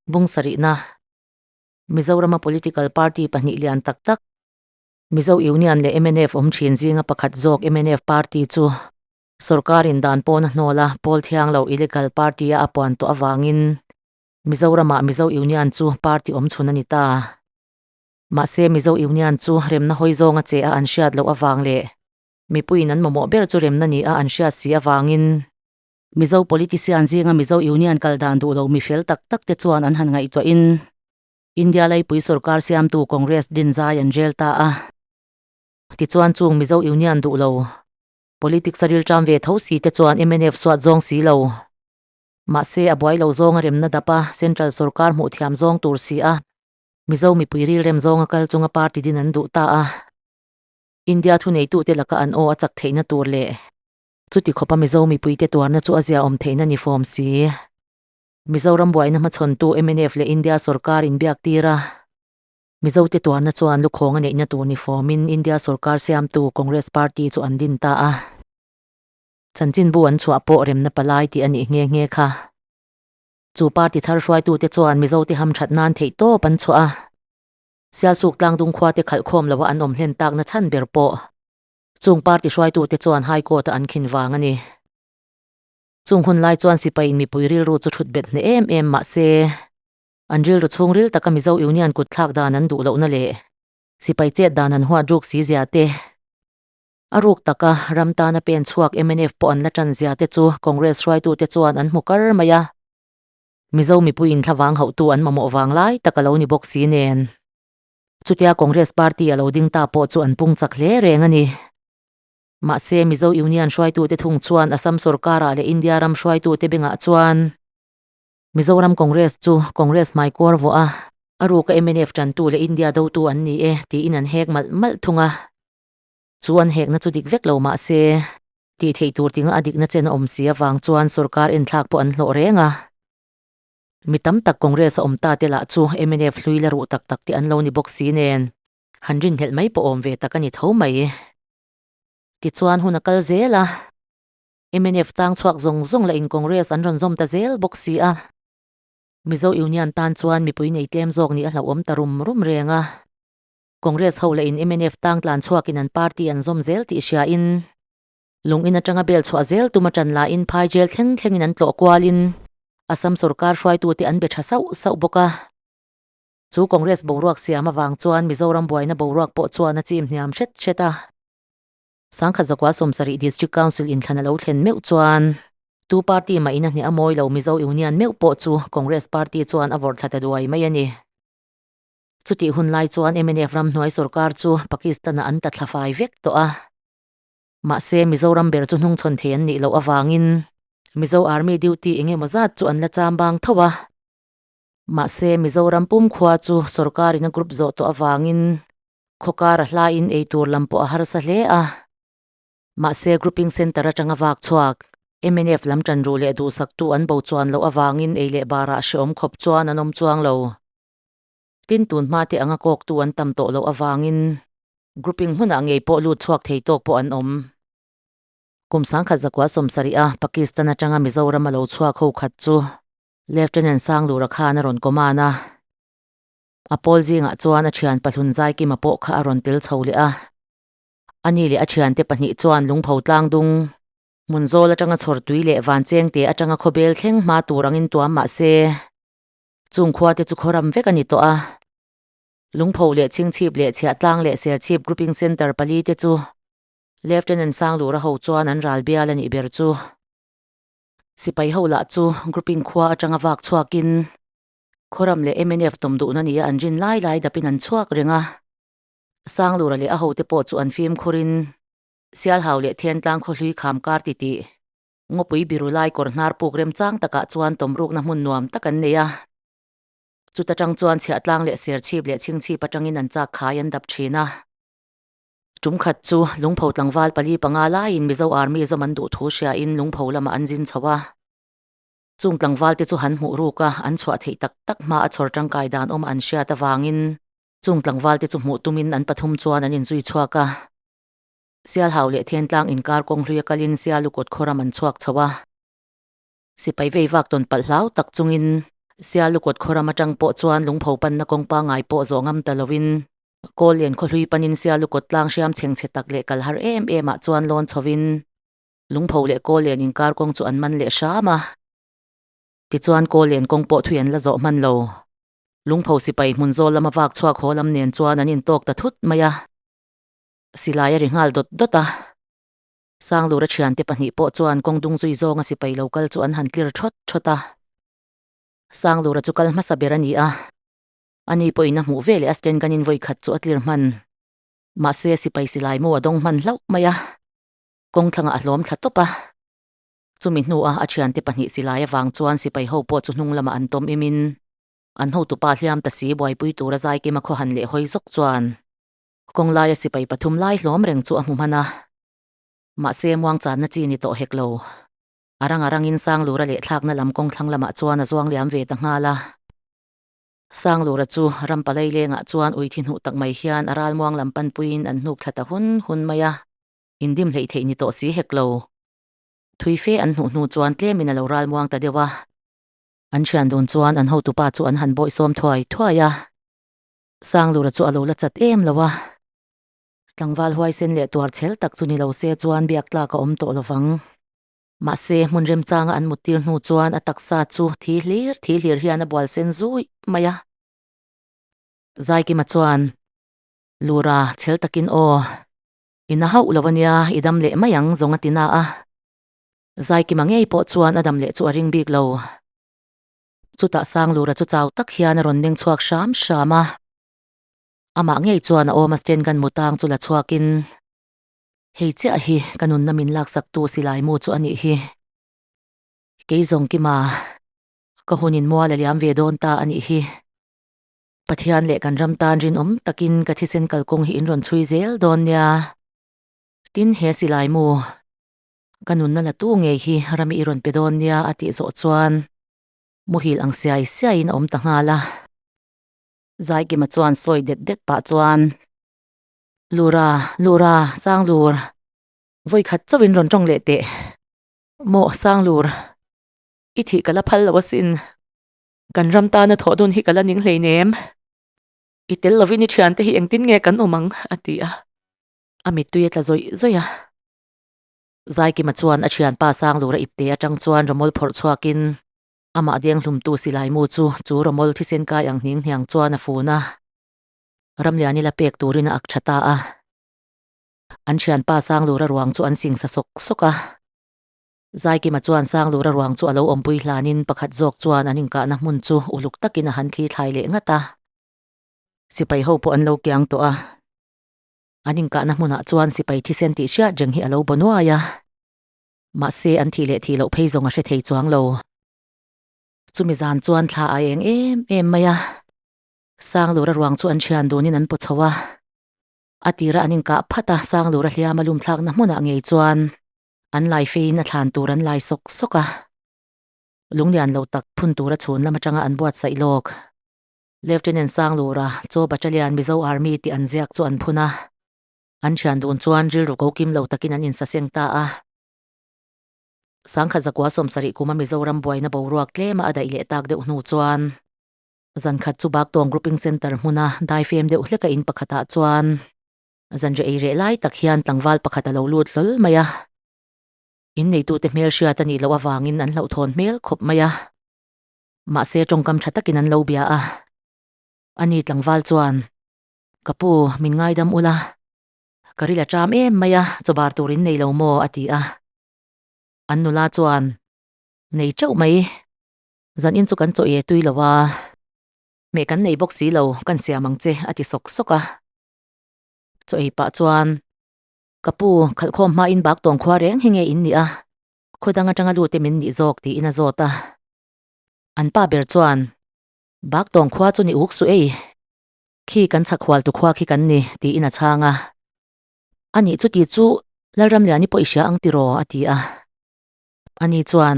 Bungsarihna, Mizorama political party pahnih lian tak tak, Mizo Union leh MNF awm thin zinga pakhat zawk MNF party chu sorkar in dan pawn a hnawl a, pawl thiang lo illegal party a apuan tawh avangin Mizoramah Mizo Union chu party awm chhun a ni ta. Mahse Mizo Union chu remna hawi zawnga che a an hriat loh avang leh mipuiin an mamawh ber chu remna nih a an hriat si avangin Mizo politician zinga Mizo Union kal dan duh lo mi fel tak tak te chuan an han ngaihtuah in India laipui sorkar siamtu Congress din zai an rel ta a. Tichuan chung Mizo Union duh lo, politics a rilṭam ve tho si te chuan MNF suat zawng si lo. Mahse a buai lo zawnga remna dap a central sorkar hmuh thiam zawng tur si a, Mizo mipui rilrem zawnga kal chunga party din an duh ta a. India thuneitute laka an aw a chak theihna tur leh Chuti khawpa Mizo mipuite tuarna chu a ziaawm theihna ni fawm si. Mizoram buaina hmachhawntu mnf leh India sorkar inbiak tira Mizote tuarna chuan lukhawng a neihna tur ni fawmin India sorkar siamtu Congress party chu an din ta a. Chanchinbu an chhuah pawh remna palai tih a nih nghe nghe kha. Chu party thar hruaitute chuan Mizote hamthat nan theih tawp an chhuah a. Sialsuk tlangdung khuate khalhkhawm loha an awm hlen takna chhan ber pawh Chung party hruaitute chuan High Court-a an khin vang a ni. Chung hun lai chuan sipain mipui rilru chu thut bet hneh em em mahse, an rilru chhungril taka Mizo Union kutthlak dan an duh lohna leh sipai chet dan han huat ruk si zia te, a ruk taka ram tana pen chhuak mnf pawh an la tan zia te chu Congress hruaitute chuan an hmu kar mai a. Mizo mipuiin thlavang hauhtu an mamawh vang lai taka lo ni bawk si nen. Chutia Congress party a lo ding ta pawh chu an pung chak hle reng a ni. Mahse, Mizo Union hruaitute thung chuan Assam sawrkarah leh India ram hruaitute bengah chuan Mizoram Congress chu Congress hmai kuar vawh a. A ruka mnf tantu leh India dotu an ni e tiin an hek malh malh thung a. Chu an hekna chu dik vek lo mah se. Tih theih tur tinga a dikna chen a awm si avang chuan sawrkar enthlak pawh an hlawh reng a. Mi tam tak Congress a awm ta te lah chu mnf hlui la ruh tak tak te an lo ni bawk si nen han rinhlelh mai pawh awm ve tak a ni tho mai. Tichuan hun a kal zel a, mnf tang chhuak zawng zawng lah in Congress an rawn zawm ta zel bawk si a. Mizo Union tan chuan mipui nei tlem zawk nih a hlauhawm ta rum rum reng a. Congress ho lah in mnf tang tlan chhuak in an party an zawm zel tih hria in, Lungin atanga bel chhuah zel tum a tan lahin phai zel thleng thlengin an tlawh kualin Assam sorkar hruaitute an be tha sauh sauh bawk a. Chu Congress boruak siam avang chuan Mizoram buaina boruak pawh chuan a chim hniam hret hret a. Sangkhat zakua Somsarih District Council in thlan a lo thlen meuh chuan. Tu party mahin a hne a mawi lo Mizo Union meuh pawh chu Congress party chuan a vawrh thla ta duai mai a ni. Chutih hun lai chuan MNF ramhnuai sorkar chu Pakistan-ah an ta thla fai vek tawh a. Mahse, Mizoram ber chu hnung chhawn thei an nih loh avangin Mizo Army duty eng emaw zat chu an la cham bang tho a. Mahse, Mizoram pum khua chu sorkarin a group zawh tawh avangin khawkar a hlaiin ei tur lam pawh a harsa hle a. Mahse, grouping centre atanga vak chhuak, MNF lam tanruh leh duhsaktu an bo chuan loh avangin ei leh barah hreawm khawp chuan an awm chuang lo. Tin, tun hma te anga kawktu an tam tawh loh avangin grouping hmunah ngei pawh lut chhuak thei tawk pawh an awm. Kum sangkhat zakua sawmsarih-a Pakistan atanga Mizoram a lo chhuak ho khat chu Lieutenant Sanglura khan a rawn command a. A pawl zingah chuan a thian pahlun Zaikima pawh kha a rawn tel chho leh a. Ani leh a thiante pahnih chuan Lungpho Tlangdung, Hmunzawl atanga Chhawrtui leh Vanchengte atanga khawbel thleng hma tur angin tuam mah se, Chung khuate chu khawram vek a ni tawh a. Lungpho leh Chhingchhip leh Chhiahtlang leh Serchhip Grouping Centre pali te chu Lieutenant Sanglura ho chuan an ral bial a nih ber chu sipai ho lah chu Grouping khua atanga vak chhuakin khawram leh mnf tawm duhna nia an rin lai lai dapin an chhuak reng a. Sanglura leh a hote pawh chu an fimkhur in Sialhau leh Thentlang khawhlui kham kar ti tih Ngawpui biru lai kawr hnar puk remchang takah chuan tawmrukna hmun nuam tak an nei a. Chuta tang chuan chhiahtlang leh serchhip leh chhingchhip atangin an chak khai an dap thin a. Tum khat chu lungpho tlangval pali panga laiin Mizo Army zawm an duh thu hriain lungpho lamah an zin chho a. Chung tlangvalte chu han hmuh ruk a, an chhuah theih tak tak hma a chhawr tangkai dan awm an hriat avangin chung tlangvalte chu hmuh tumin an pathum chuan an inzui chhuak a. Sialhau leh Thiantlang inkar kawng hlui a kalin Sialu kawt khawram an chhuak chho a. Sipai vei vak tawn palh hlau tak chungin Sialu kawt khawram atang pawh chuan lungpho panna kawng pangai pawh zawh ngam ta lo in Kawl len khaw hlui panin Sialu kawt tlang hriam chheng chhe tak leh kal har em em ah chuan lawn chho in lungpho leh Kawl len inkar kawng chu an man leh hram a. Tichuan Kawl len kawng pawh thui an la zawh hman lo. Lungpho sipai hmun zawl lama vak chhuak haw lam nen chuan an in tawk ta thut mai a. Silai a ri nghal dawt dawt a. Sanglura thiante pahnih pawh chuan kawng dung zui zawnga sipai lo kal chu an han tlir thawt thawt a. Sanglura chu kal hmasa ber a ni a. Ani pawhin a hmuh veleh a stand ganin vawi khat chu a tlir hman. Mahse, sipai silai mu a dawng hman hlauh mai a. Kawng thlangah a hlawm thla tawp a. Chumi hnua a thiante pahnih silai avang chuan sipai ho pawh chu hnung lamah an tawm imin, an hotupa hliam ta si buaipui tura zai kima khaw han leh hawi zawk chuan, Kawng laia sipai pathum lai hlawm reng chu a hmu hman a, mahse muang channa chi ni tawh hek lo. A rang a rangin Sanglura leh thlakna lam kawng thlang lamah chuan a zuang liam ve ta nghal a. Sanglura chu ram palai lengah chuan ui thi hnuh tak mai hian a ral muang lam pan puiin an hnuk thla ta hun hun mai a, indim hleih theih ni tawh si hek lo. Thui fe an hnuh hnu chuan tlemin a lo ral muang ta deuh a. An thian dun chuan an hotu pa chu an han bawih sawm thuai thuai a. Sanglura chu a lo la chat em lo a, tlangval huaisen leh tuar chhel tak chu ni lo se chuan biak tlak a awm tawh lo vang. Mahse, hmun remchanga an muttir hnu chuan a taksa chu thi hlir thi hlir hian a bual sen zuih mai a. Zaikima chuan, Lura, chhel takin aw, i na hauh lo a nia, i dam leh mai ang zawng a ti na a. Zaikima ngei pawh chuan a dam leh chu a ring bik lo. Chutah Sanglura chu chau tak hian a rawn meng chhuak hram hram a. Amah ngei chuan a awm a stand kan mu tang chu la chhuakin, Hei chiah hi ka nunna min laksaktu Silaimu chu a nih hi. Kei zawng kima ka hun in mual a liam ve dawn ta a nih hi. Pathian leh kan ram tan rinawm takin ka thisen kalkawng hi in rawn chhui zel dawn nia. Tin he Silaimu Ka nunna la tu ngei hi Rami i rawn pe dawn nia a tih zawh chuan muhil ang siai siaiin a awm ta nghal a. Zaikima chuan sawi det det pah chuan, Lura, Lura, Sanglur, vawi khat chauhin rawn tawng leh teh maw Sanglur, i thih ka la phal lo asin, kan ram tana thawh dun hi ka la ning hleinem, i tel lovin i thiante hi engtin nge kan awm ang a ti a, a mittui a tla zawih zawih a. Zaikima chuan a thianpa Sanglur a ipte atang chuan rawmawl phawrh chhuakin. Amah denghlumtu Silaimu chu chu rawmawl thisen kai ang hniang hniang chuan a fun a. Ramlian ila pek turin a ak tha ta a. An thianpa Sanglura ruang chu an singsa sawk sawk a. Zaikima chuan Sanglura ruang chu a lo awmpui hlanin pakhat zawk chuan an inkahna hmun chu uluk takin a han thlithlai leh ngat a. Sipai ho pawh an lo kiang tawh a. An inkahna hmunah chuan sipai thisen tih hriat reng hi a lo baw nuai a, mahse an thih leh thih loh phei zawng a hre thei chuang lo. Chumi zan chuan thla a eng em em mai a, Sanglura ruang chu an thian dunin an pawchho a. A tira an inkah phat a, Sanglura hliam a lumthlakna hmunah ngei chuan an lai feiin a thlan tur an lai sawk sawk a. Lunglian lo tak phun tura chhun lam atanga an buatsaih lawk. Lieutenant Sanglura, Chaw Battalion Mizo Army tih an ziak chu an phun a, an thian dun chuan rilru ko kim lo takin an insaseng ta a. Sangkhat zakua sawm sarih kuma Mizoram buaina boruak tlema a daih leh tak deuh hnu chuan, zan khat chu Baktawng Grouping Centre hmuna dai fem deuh hleka in pakhatah chuan zanri ei reh lai tak hian tlangval pakhat a lo lut hlawl mai a, in neitute hmelhriat a nih loh avangin an hlauhthawn hmel khawp mai a. Mahse tawngkam tha takin an lo bia a, a ni tlangval chuan, Ka pu, min ngaidam ula, ka ri la ṭam em mai a, chawbar turin nei lo maw? a ti a. An nula chuan, Nei ṭeuh mai, zan in chu kan chaw e tui lo a, meh kan nei bawk si lo, kan siam ang che, a ti sawk sawk a. Chaw ei pah chuan, Ka pu, khalhkhawm hma in bak tawng khua reng hi nge in nih a, Khawdang atanga lute min nih zawk tiin a zawt a. An pa ber chuan, Baktawng khua chu ni uk suh ei. Khi kan chhakhualtu khua khi kan ni, tiin a chhang a. Ani chuti chu Lalramliani pawh i hria ang tiraw, a ti a. Ani chuan,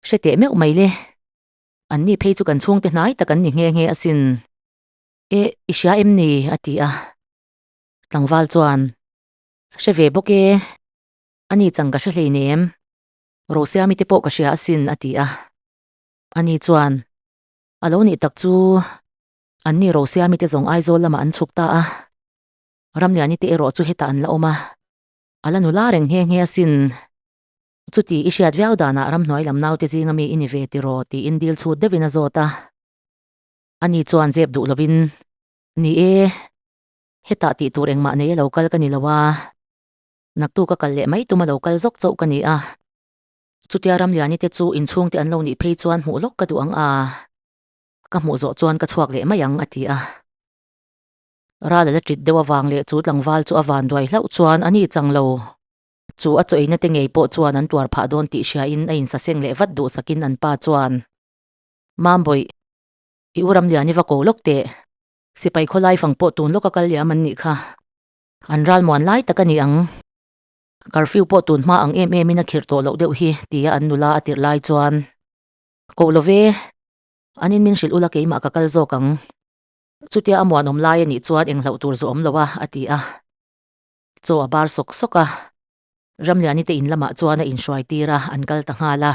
Hre teh meuh mai le. Anni phei chu kan chhungte hnai tak an ni nghe nghe asin. E, i hria em ni, a ti a. Tlangval chuan, Hre ve bawk e. A ni chang ka hre hlein em? Rosia mite pawh ka hria asin, a ti a. A ni chuan, A lo nih tak chu anni Rosia mite zawng Aizawl lamah an chhuk ta a. Ramliani te erawh chu hetah an la awm a, a la nula reng nghe nghe asin. Chuti i hriat viau danah ramhnuai lam naute zinga mi i ni ve ti rawh, tiin dil chhut deuhin a zawt a. A ni chuan zep duh lovin, Ni e, hetah tih tur engmah nei a lo kal ka ni lo a. Naktu ka kal leh mai tum a lo kal zawk chauh ka ni a. Chutia Ramliani te chu inchhungte an lo nih phei chuan hmuh lawk ka duh ang a. Ka hmuh zawh chuan ka chhuak leh mai ang a ti a. Ral a la tit deuh avang leh chu tlangval chu a van duai hlauh chuan a ni chang lo. Chu a chawina te ngei pawh chuan an tuar phah dawn tih hria in a in saseng leh vat duhsak in an pa chuan, Mambawi, i u Ramliani va ko lawk teh. Sipai khawlai fang pawh tun lawk a kal liam an nih kha. An ral muan lai tak a ni ang. Curfew pawh tun hma ang em emin a khirh tawh loh deuh hi, tia an nula a tirh lai chuan, Koh lo ve, an in min hrilh ula keimah ka kal zawk ang. Chutia a muanawm lai a nih chuan eng hlauh tur zawh awm lo a, a ti a. Chaw a bar sawk sawk a. Ramliani te in lamah chuan a inhruai tir a, an kal ta nghal a.